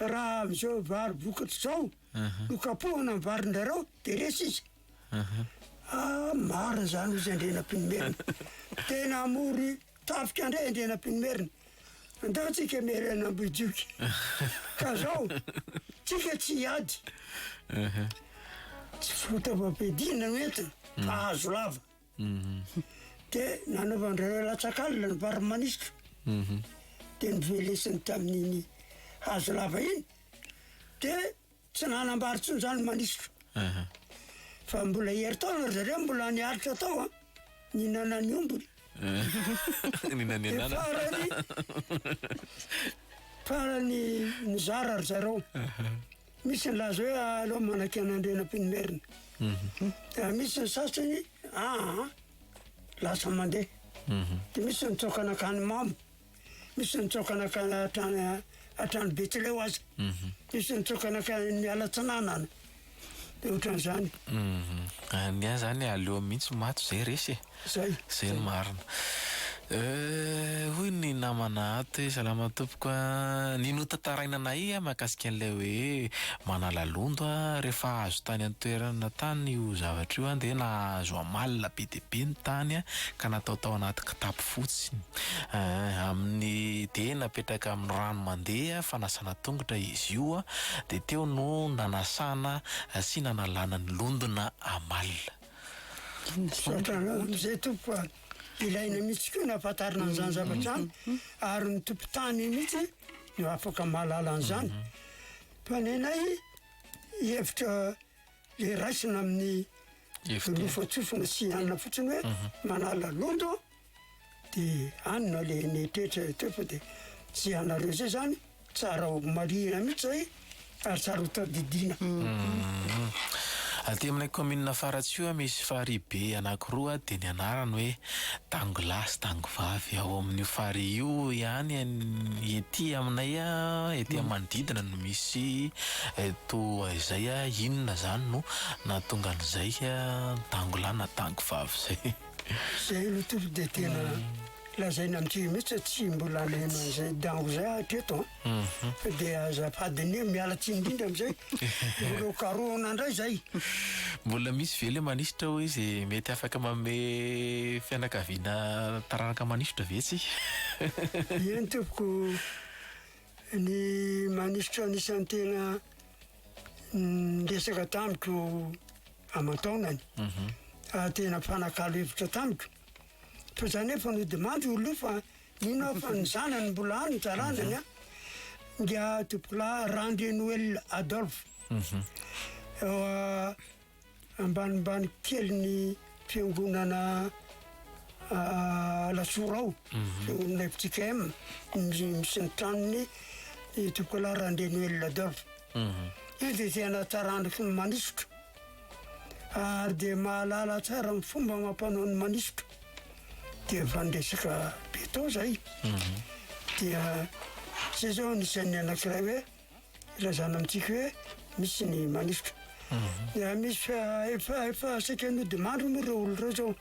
Raha amin'izao vary vokatra izao no kapohina ny varindrareo dia resy izy. Ah, marina izany hozy Andrianampoinimerina. Tena hamory tafika indray Andrianampoinimerina. Andao tsika miara any Ambohijoky. Ka zao, tsika tsy hiady. Tsy fitaovam-piadiana no entina fa hazo lava. Dia nanaovan-dry latsaka alina ny vary manisitra. Dia novelesiny tamin'iny hazo lava iny. Dia tsy nanambary intsony izany ny manisitra. Fa mbola herintaona ry zareo mbola niaritra tao an, nihinana ny ombiny. Nihinana ny anana. Dia farany, farany nizara ry zareo. Misy nilaza hoe aleo manakia an'Andrianampoinimerina. Mhm. Raha misy ny sasany, aa, lasa mandeha. Mhm. Dia misy ny tsoaka nakany mamo, misy ny tsoaka nakany hatrany hatrany Betsileo aza. Mhm. Misy ny tsoaka nakany miala tsinanana. Dia ohatran'izany. Ny ahy zany aleo mihitsy maty zay resy e. Zay no marina. Euh, hoy ny namana ato hoe salama tompoko a, ny notantaraina nahay a mahakasika an'ilay hoe manala londo a, rehefa hahazo tany an-toerana tany io zavatra io a dia nahazo amalona be dia be ny tany a ka natao tao anaty kitapo fotsy eeh, amin'ny dia napetraka amin'ny rano mandeha fanasana tongotra izy io a, dia teo no nanasana sy nanalana ny londona amalona. Misaotra anao mzay tompoko a! Ilaina mihitsy koa ny hahafantarana an'izany zavatra izany ary ny tompon-tany mihitsy no afaka mahalala an'izany. Fa ny anay hevitra le raisina amin'ny Efitra. lofotsofina sy anona fotsiny hoe manala londo Dia any no alehan'ny toetra eo fa dia tsy ianareo izay izany tsara ho marihina mihitsy izay ary tsara ho tadidiana. Aty aminay kaominina Faratsiho misy farihy be anankiroa dia ny anarany hoe Tango lahy sy Tango vavy. Ao amin'io farihy io ihany ety aminay ety amin'ny manodidina no misy toa izay. Inona izany no nahatonga an'izay Tango lahy na Tango vavy izay? Zay aloha tompoko dia tena lazaina amintsika mihitsy fa tsy mbola naheno an'izay dango zay hatreto an ah. mhm. fa dia azafady anie miala tsy indrindra amizay mbola karohana indray zay mbola misy ve le manisotra hoe izy mety afaka mame fianakaviana taranaka manisotra ve tsy eny tompoko ny manisotra anisan'ny tena niresaka tamiko aman-taonany mhm. ah, tena mpanakalo hevitra tamiko fa zany efa nodimandry olo io fa nino fa ny zanany mbola any taranany a mhm. dia tompokolahy randre noel adolphe mhm. ah, ambanimbany kely ny fiangonana Alasora ao, fiangonana FJKM, misy ny tranony i Tokola Randrianoelina Adolphe. Izy dia tena tsara andro fomba manisotro. Ary dia mahalala tsara ny fomba amam-panao ny manisotro. Dia efa niresaka be tao zay. Dia zay zao anisan'ny anankiray hoe ilazana amintsika hoe misy ny manosika. Dia misy eh, efa efa saika nodimandry moa ireo olona ireo zao.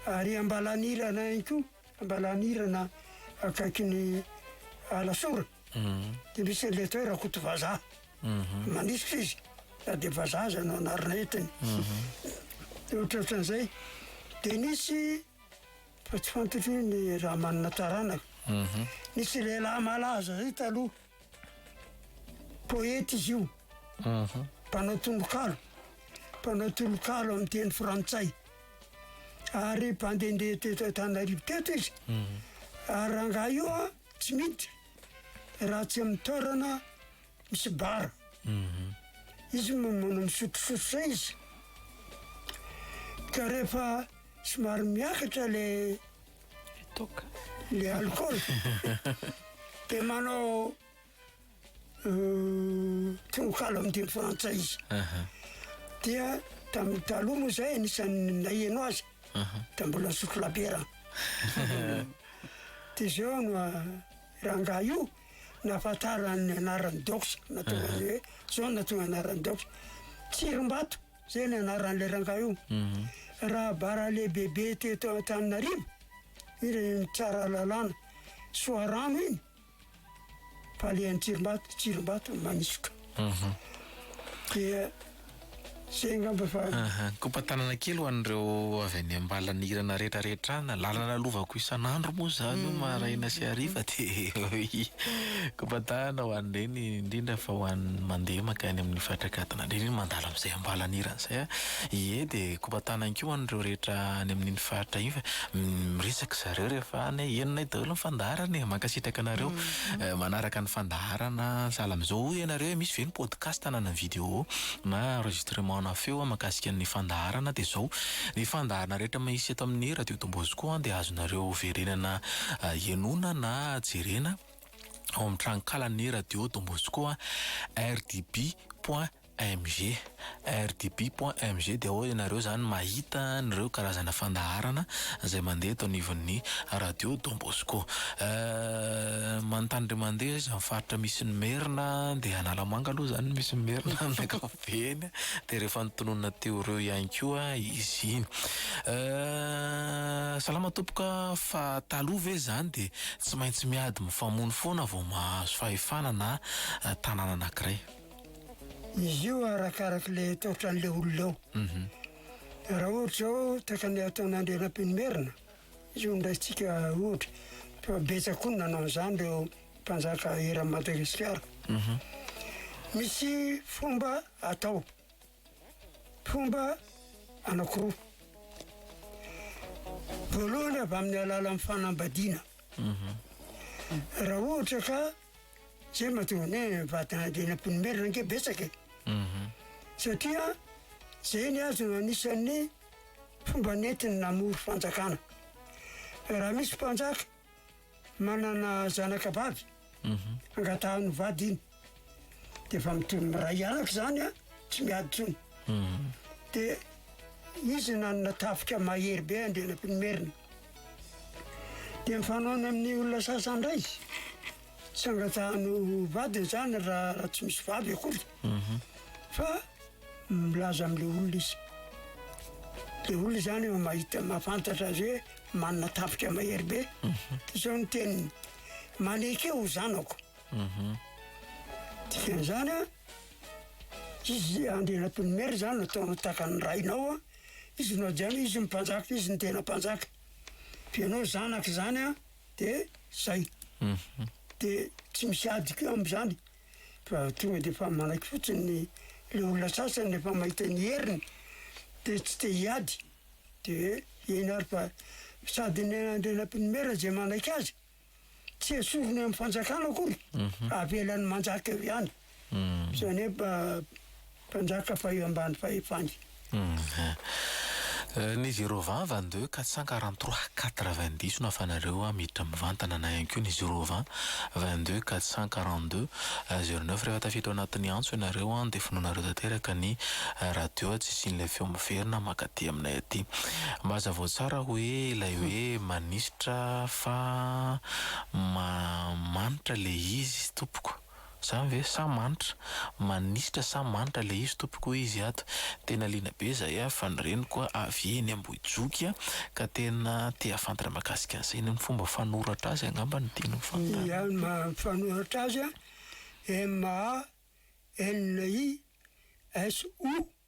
Ary Ambalanirana ihany koa, Ambalanirana akaikin'ny Alasora. Dia misy an'ilay atao hoe Rakoto Vazaha. Manosika izy, na dia vazaha aza no anarana entiny. Dia ohatrohatran'izay. Dia nisy fa tsy fantatro hoe ny raha manana taranaka. Nisy lehilahy malaza zay taloha. Poeta izy io, mpanao tononkalo, mpanao tononkalo amin'ny teny frantsay. Ary mpandehandeha teto Antananarivo teto izy. Ary rangahy io a, tsy miditra raha tsy amin'ny toerana misy bara. Izy no manao misotrosotro izay izy. Ka rehefa somary miakatra le Toaka. Ny alikaola. Dia manao tononkalo amin'ny teny frantsay izy. Dia tamin'ny taloha moa izay anisan'ny naheno azy. Dia mbola nisotro labiera. Dia izao no rangahy io nahafantarany ny anaran'i Dox. Nahatonga an'io hoe izao no nahatonga ny anaran'i Dox. Tsirimbato. Zay ny anaran'ilay rangahy io. Rahabara lehibebe teto Antananarivo, iny le mitsara lalàna, Soarano iny, balehan'i Tsirimbato, Tsirimbato, Manisoka. Dia zay angamba fa. Kopa-tanana kely ho an'ireo avy any Ambalanirana rehetra retrana, lalana lovako isan'andro moa zany io maraina sy hariva dia kopa-tanana ho an'ireny indrindra fa ho an'ny mandeha mankany amin'ny faritra Gadona. Andriana iny mandalo amin'izay ambalan'irany izay a! Ie dia kopa tanana ihany koa an'ireo rehetra any amin'iny faritra iny fa miresaka zareo rehefa any hoe henonay daholo ny fandaharana e! Mankasitraka anareo manaraka ny fandaharana sahala amin'izao. Hoy ianareo hoe misy ve ny podcast na ny video na enregistrement-na feo mahakasika ny fandaharana dia izao, ny fandaharana rehetra misy eto amin'ny Radio Don Bosco dia azonareo verenana henona na jerena. ao amin'ny tranonkalan'ny radio Don Bosco RDB point MG RDB point MG dia ao ianareo zany mahita an'ireo karazana fandaharana izay mandeha eto anivon'ny radio Don Bosco euh, manontany ndray mandeha izany faritra misy ny merina dia Analamanga aloha zany misy ny merina Eny dia rehefa notononina teo ireo ihany koa izy iny. Euh salama tompoko a, fa taloha ve izany dia tsy maintsy miady mifamono foana vao mahazo fahefana na tanàna anankiray? Izy io arakaraka ilay ataotran'ilay olona eo. Raha ohatra izao takany ataon'Andrianampoinimerina Izao ndraisintsika ohatra, fa betsaka koa ny nanao an'izany ireo mpanjaka eran'i Madagasikara. Misy fomba atao, fomba anankiroa. Voalohany avy amin'ny alalan'ny fanambadiana. Raha ohatra ka zay mahatonga ny hoe vadina dia ny ampony merina ange betsaka e. Satria zay ny azo anisan'ny fomba nentiny namory fanjakana. Raha misy mpanjaka manana zanaka vavy, angatahan'ny vady iny. Dia efa mitovy miray hianaka izany a, tsy miady intsony. Dia izy nanana tafika mahery be Andrianampinomerina. Dia mifanaona amin'ny olona sasany indray izy. Tsy angatahanao ho vady izany raha tsy misy vady akory fa milaza amin'ilay olona izy. Ilay olona izany efa mahita, mahafantatra azy hoe manana tafika mahery be. Izao ny teniny, maneke ho zanako. Dikan'izany an, izy Andrianatonomera izany no atao takan'ny rainao an, izy no hajaina, izy no mpanjaka, izy no tena mpanjaka. Fa ianao zanaka izany an, de zay, de tsy misy adiko eo amzany fa tonga de efa manaiky fotsiny ny le olona sasany refa mahita ny heriny de tsy te hiady de eny ary fa sady ny an'Andriana Nampinomera ze manaiky azy tsy esoriny amy fanjakana akory fa avelany manjaka eo ihany. Izany hoe mba mpanjaka faha ambany fahefany. Ny zéro vingt vingt deux quatre cent quarante trois quatre vingt dix no ahafahanareo miditra mivantana na ihany koa ny zéro vingt vingt deux quatre cent quarante deux zéro neuf rehefa tafiditra ao anatin'ny antso ianareo dia vonoinareo tanteraka ny radio tsy hisian'ilay feo miverina mankaty aminay aty mba hazavao tsara hoe ilay hoe manisitra fa ma manitra ilay izy tompoko. Zany ve sa manitra? Manisitra sa manitra le izy tompoko hoy izy ato. Tena liana be zahay a fa ny reniko a avy eny Ambohijoky a ka tena te hafantatra makasika an'izay. Ny fomba fanoratra azy angamba no tiany hofantarina. Ny fanoratra azy a, MANISOU.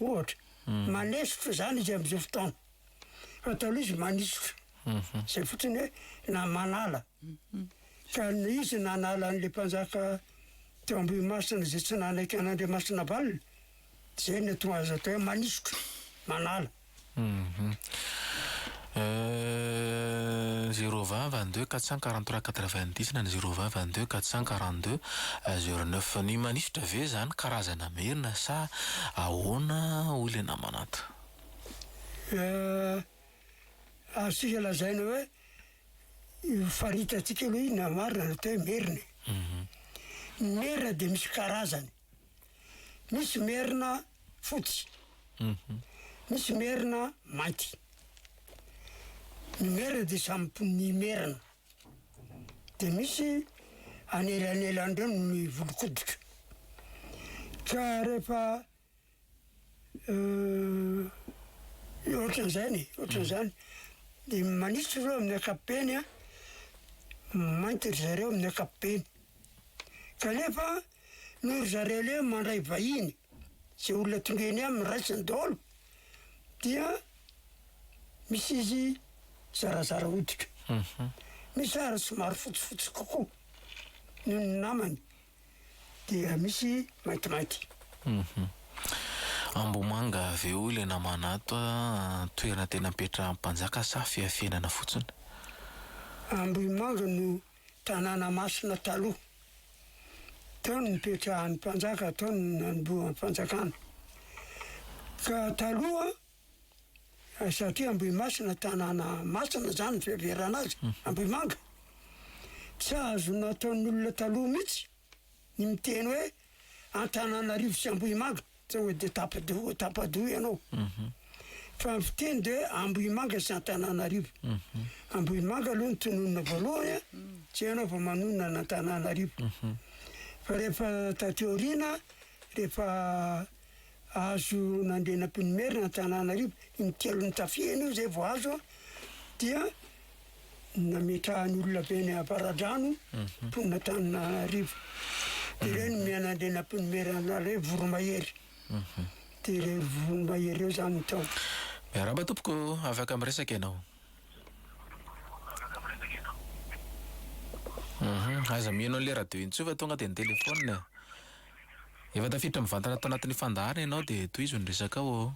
ohatra. Manesotra izany izy amin'izao fotoana. Fa taloha izy manisotra. Izay fotsiny hoe na manala. Ka izy nanala an'ilay mpanjaka teo Ambohimasina izay tsy nanaiky an'Andriamasinavalona, izay no tonga azy atao hoe manisotra, manala. Zéro vingt vingt deux quatre cent quarante trois quatre vingt dix na ny zéro vingt vingt deux quatre cent quarante deux zéro neuf. Ny manisotra ve izany karazana merina sa ahoana hoy ilay namana ato? Azontsika lazaina hoe io faritantsika aloha io na marina na teo hoe merina e. Ny merina dia misy karazany. Misy merina fotsy, misy merina mainty. Ny merina dia samy po- ny merina. Dia misy anelanelan'ireo ny volon-koditra. Ka rehefa Ohatran'izany e, ohatran'izany. Dia manitsy ireo amin'ny ankapobeny an, mainty ry zareo amin'ny ankapobeny. Kanefa noho ry zareo aleha mandray vahiny, izay olona tonga eny aminy raisiny daholo, dia misy izy zarazara hoditra. Misy ary somary fotsifotsy kokoa noho ny namany. dia misy maintimainty. Hum. Ambohimanga avy eo ilay naman'ato a, toerana tena apetrahan'ny mpanjaka sa fiafenana fotsiny? Ambohimanga no tanàna masina taloha. Tao no nipetrahan'ny mpanjaka, tao no nanombohan'ny fanjakana. Ka taloha Satria Ambohimasina tanàna masina zany ny fiheverana azy, Ambohimanga. Tsy azo nataon'olona taloha mihitsy ny miteny hoe Antananarivo sy Ambohimanga tsy hoe de tapa-doha tapa-doha ianao. Fa ny fiteny de Ambohimanga sy Antananarivo. Ambohimanga aloha no tononina voalohany a, zay ianao vao manonona an' Antananarivo. Fa rehefa taty aoriana, rehefa azo nandena mpinimerina Antananarivo in telo nitafia enao izay vao azo an, dia nametrahany olona avy any avaradrano mhm. mponina Antananarivo dia ireo no mianandena mpinimerana hoe voromahery mhm. dia ireo voromahery eo zany ny tao miaramba tompoko afaka miresaka ianao mhm. aza mino an'le radio intsova tonga dia ny telefona Efa tafiditra mivantana tao anatin'ny fandaharana ianao dia tohizo ny resakao ô!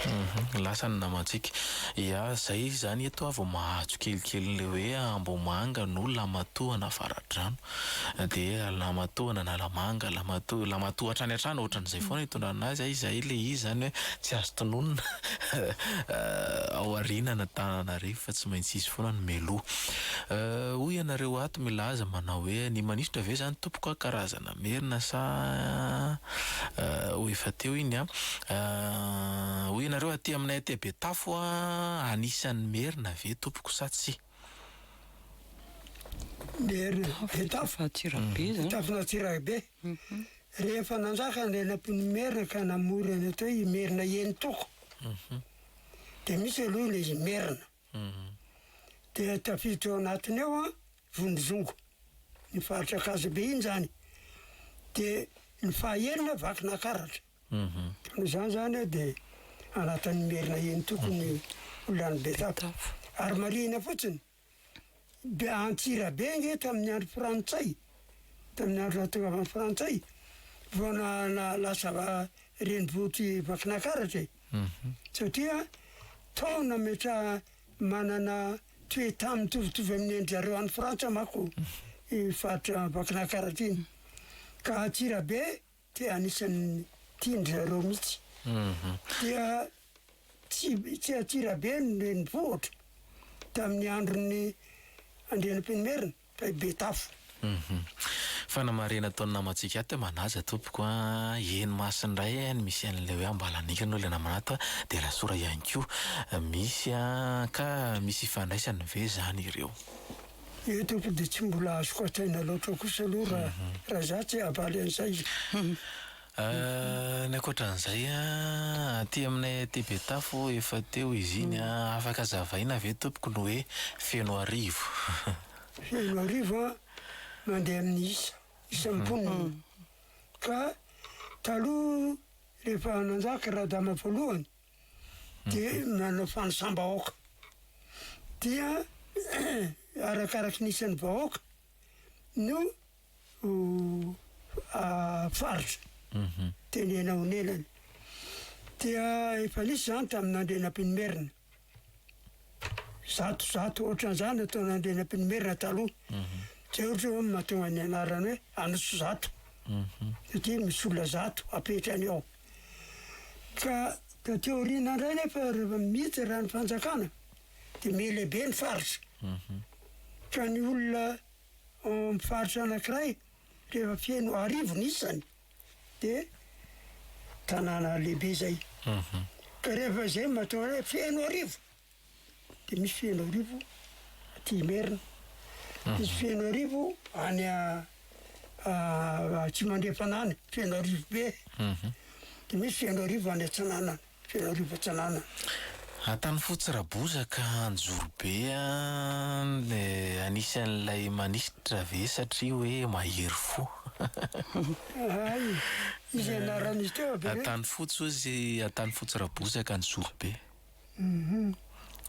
Hum lasa ny namantsika. Ia zay zany eto aho vao mahazo kelikely ny le hoe Ambohimanga no Lamatohana Avaradrano dia Lamatohana Analamanga, Lamatoha, Lamatoha hatrany hatrany ohatran'izay foana itondrana azy a, izay le izy zany hoe tsy azo tononina ao aorianan'Antananarivo fa tsy maintsy izy foana no mialoha. Hoy ianareo ato milaza manao hoe ny manisitra ve zany Tompoko a, karazana merina sa ho efa teo iny a? Hoy ianareo aty aminay aty Betafo a, anisan'ny merina ve tompoko sa tsia? Betafo Antsirabe, rehefa nanjaka ny lalam-pon'ny merina ka namorona ny atao hoe i merina eny toko dia misy aloha ilay izy merina. Dia tafiditra ao anatiny ao an, Vonizongo, ny faritra Ankazobe iny zany. Dia ny fahaenina Vakinankaratra. Noho izany zany an dia anatin'ny Merina eny tokony ho lany Betsata. Ary marihina fotsiny. Dia Antsirabe ange tamin'ny andro frantsay, tamin'ny andro nahatongavan'ny frantsay vao lasa renivohitr'i Vakinakaratra e! satria tao nametraha, manana toe-tany mitovitovy amin'ny an-dry zareo any Frantsa manko iny faritra Vakinakaratra iny, ka Antsirabe Dia anisan'ny tian-dry zareo mihitsy. Dia tsy tsy Antsirabe no renivohitra tamin'ny andron'ny Andrianampoinimerina fa i Betafo. Fanamarihana ataon'ny namantsika ato hoe manaja tompoko a, eny Masina indray a ny misy an'ilay hoe Ambalanika no ilay namana ato a, dia Rasora ihany koa misy a, ka misy ifandraisany ve izany ireo? Io tompoko dia tsy mbola azoko hatr'aina loatra kosa aloha raha raha za tsy havaly an'izay. Ny ankoatran'izay an, aty aminay aty Betafo efa teo izy iny an, afaka azavaina ve tompoko ny hoe Fenoarivo? Fenoarivo an, mandeha amin'ny isa, isan'ny mponina. Ka taloha rehefa nanjaka Radama voalohany, dia nanao fanisam-bahoaka. Dia arakaraky ny isan'ny vahoaka no faritra tenena onelany. Dia efa nisy zany tamin'Andrianampoinimerina. Zato zato ohatran'izany no taon'Andrianampoinimerina taloha. Zay ohatra hoe mahatonga ny anarany hoe Anosizato. Satria misy olona zato apetrany ao. Ka taty aoriana indray nefa rehefa miditra raha ny fanjakana dia mihelehibe ny faritra. Ka ny olona ao amin'ny faritra anankiray rehefa feno arivo ny isany dia tanàna lehibe izay. Ka rehefa izay matoa hoe feno arivo. dia misy Fenoarivo aty Imerina, misy Fenoarivo any Atsimandrefana any, Fenoarivo be, dia misy Fenoarivo any Atsinanana, Fenoarivo Atsinanana. Antanifotsy Rabozaka Anjorobe dia anisan'ilay manisitra ve satria hoe mahery fo? Hay, izay anaran'izy teo aby ireny. Antanifotsy hozy, Antanifotsy Rabozaka Anjorobe.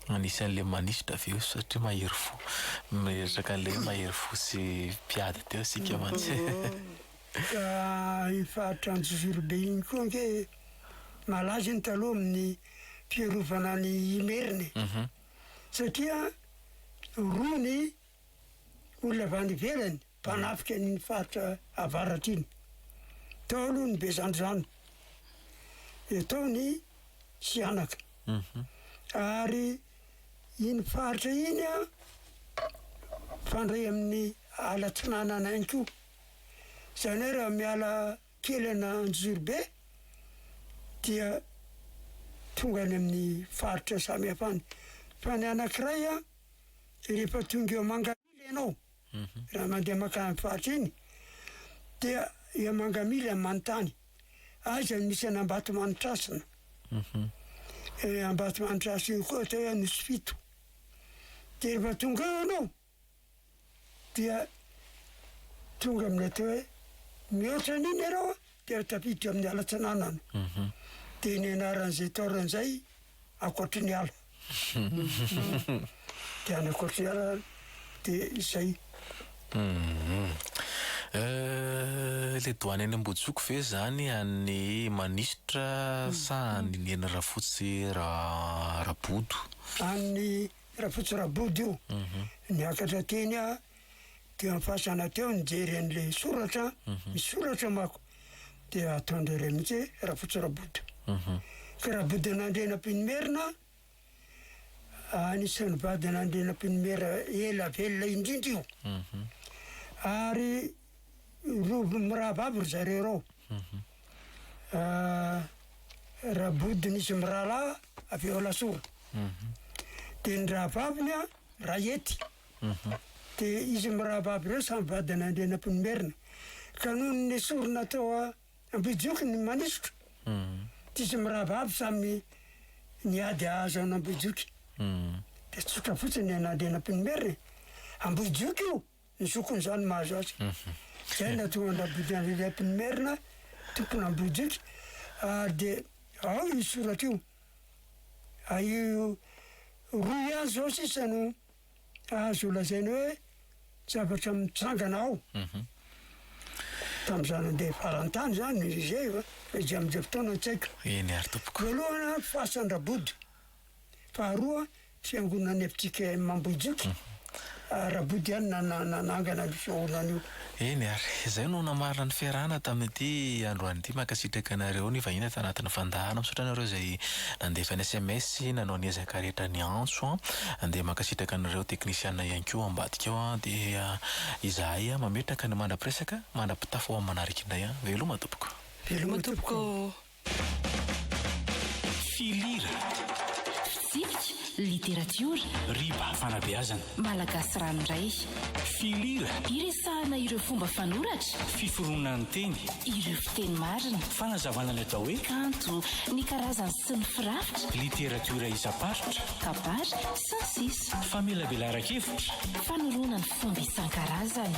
Anisan'ilay manisitra avy eo satria mahery fo. Mieritraka an'ilay hoe mahery fo sy mpiady teo isika mantsy e. Ka efa atr'Anjo Virobe iny koa ange malaza iny taloha amin'ny fiarovana an'i Imerina e. Satria roa ny olona avy any ivelany. mpanafika an'iny faritra avaratra iny. Tao aloha ny Bezandrizano, dia tao ny Sihanaka. Mhm. Ary iny faritra iny an, mifandray amin'ny ala atsinanana ihany koa. Izany hoe raha miala kely ana Anjozorobe dia tonga any amin'ny faritra samihafa any. Fa ny anankiray an, rehefa tonga eo Manga. Ianao raha mandeha mankany amin'ny faritra iny dia i Amangamily amin'ny manontany, aiza no misy an'Ambatomanitrasina? Io Ambatomanitrasina io koa atao hoe Anosifito. Dia rehefa tonga eo ianao dia tonga amin'ny atao hoe mihoatra an'iny ianao dia tafiditra amin'ny ala-tsinanana. Dia ny anaran'izay taolana izay ankoatry ny ala. Dia any ankoatry ny ala dia izay. Le doany any Ambojoko ve zany an'ny manisitra sa an'ny neny Rafotsy Rabodo? An'ny Rafotsy Rabodo io. Mhm. Niakatra teny Teo am fasana teo nijery an'ilay soratra, misy soratra manko de ataondreo reo mihitsy hoe Rafotsirabodo. Ka Rabodonandrianampianimerina anisan'ny vadin'Andrianampianimera ela velona indrindra io. Ary roa mirahavavy ry zareo reo. Rabodo nisy mirahalahy avy ao Alasora. De ny rahavaviny a Rahety. Dia izy mirahaba aby ireo samy vadin'Andrianampoinimerina. Ka nony nesorina teo Ambohijoky ny manisotra, dia izy mirahaba aby samy niady hahazo an'Ambohijoky. Dia tsotra fotsiny ny an'Andrianampoinimerina e! Ambohijoky io, ny zokin'izany mahazo azy. Izay no nahatonga an'Rabodoandrianampoinimerina tompon'Ambohijoky. Ary dia ao io soratra io. Roa ihany izao sisa no azo lazaina hoe zavatra mitsangana ao. Mhm. Tamin'izaho nandeha faran'ny tany izany, Merizey, fa izay amin'izay fotoana tsy haiko. Eny ary tompoko. Voalohana, fasan-dRabody. Faharoa, fiangonan'ny FJKM Ambohijoky. Mhm. Ah, Rabody ihany na- na- nanangana an'io fiangonana io. Eny ary, izay no namarana ny fiarahana tamin'ity androany ity. Mankasitraka anareo nivahiny tanatin'ny fandahana. Misaotra anareo izay nandefa ny sms sy nanao ny ezaka rehetra niantso an. Dia mankasitraka anareo teknisiana ihany koa ao ambadika ao an. Dia izahay mametraka ny mandra-piresaka, mandra-pitafy ho amin'ny manaraka indray an. Veloma tompoko. Veloma tompoko. Filira. Fitsipika, literatiora. Riba, fanabeazana. Malagasy ranoray. Filira. Iresahana ireo fomba fanoratra. Fiforonan'ny teny. Ireo fiteny marina. Fanazavana ny atao hoe. Kanto, ny karazany sy ny firafitra. Literatiora isam-paritra. Kabary, sy ny sisa. Famelabelaran-kevitra. Fanorona ny fomba isan-karazany.